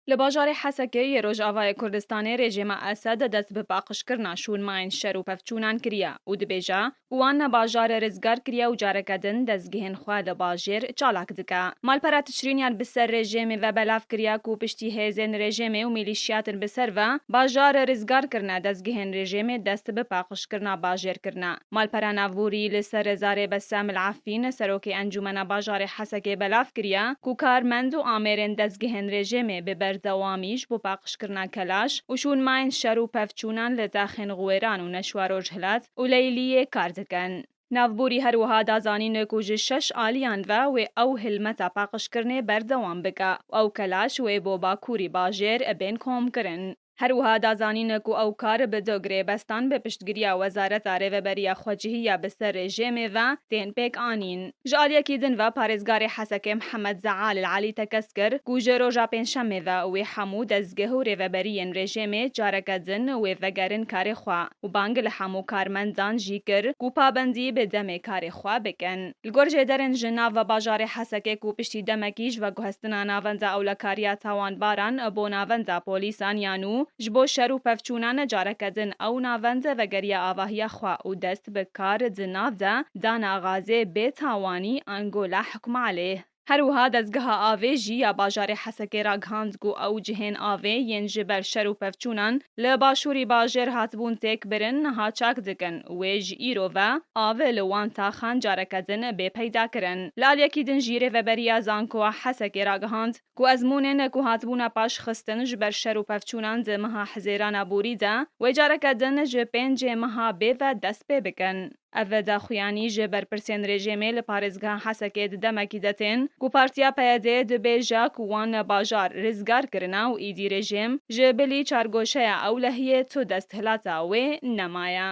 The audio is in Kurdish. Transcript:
Li bajarê Hesekê yê Rojavayê Kurdistanê rejîma Esed dest bi paqijkirina şûnmayên şer û pevçûnan kiriye û dibêje ku wan me bajarê rizgar kiriye û careke din dezgehên xwe li bajêr çalak dike. Malpera Tiçrînyan bi ser rejêmê ve belav kiriye ku piştî hêzên rejêmê û mîlîşyatin bi ser ve bajar rizgar kirine, dezgehên rejêmê dest bi paqijkirina bajêr kirine. Malpera Navborî li ser zarê Bessam El Affîn, Serokê Encûmena Bajarê Hesekê belav kiriye ku karmend û amêrên dezgehên rejîmê bi berdewamî ji bo paqijkirina kelaş û şûnmayên şer û pevçûnan li daxên Xwêran û Neşwa Rojhilat û Leyliyê kar dikin. Navborî her wiha da zanîn ku ji şeş aliyan ve wê ew hilmeta paqijkirinê berdewam bike û ew kelaş wê bo Bakûrî bajêr bên komkirin. Her wiha da zanîn ku ew kar bi du girêbestan bi piştgiriya Wezareta Rêveberiya Xwecihî ya bi ser rejêmê ve tên pêk anîn. Ji aliyekî din ve parêzgarê Hesekê Mihemed Zeal El Elî tekez kir ku ji roja pêncşemê ve wê hemû dezgeh û rêveberiyên rejêmê careke din wê vegerin karê xwe û bang li hemû karmendan jî kir ku pabendî bi demê karê xwe bikin. Li gor jêderên ji nav bajarê Hesekê ku piştî demekî ji veguhestina navenda ewlekariya tawanbaran bo navenda polîsan ya nû ji bo şer û pevçûna ne careke din ew navend vegeriya avahiya xwe û dest bi kar di nav de dana Gazê bê tawanî ango la hikm aleyh Her wiha dezgeha avê jî ya bajarê Hesekê ragihand ku ew cihên avê yên ji ber şer û pevçûnan li başûrî bajêr hatibûn têk birin niha çak dikin û wê ji îro ve av li wan taxan careke din bê peyda kirin. Li aliyekî din jî Rêveberiya Zankoa Hesekê ragihand ku ezmûnên ku hatibûne paş xistin ji ber şer û pevçûnan di meha hizêrana borî de wê careke din ji pêncê meha bê ve dest pê bikin. Ev daxuyanî ji berpirsên rejîmê li parêzgeha Hesekê di demekî de tên ku partiya PYD'ê di bêja ku wan bajar rizgar kirine û îdî rejîm ji bilî çargoşeya ewlehiyê tu desthilata wê nemaye.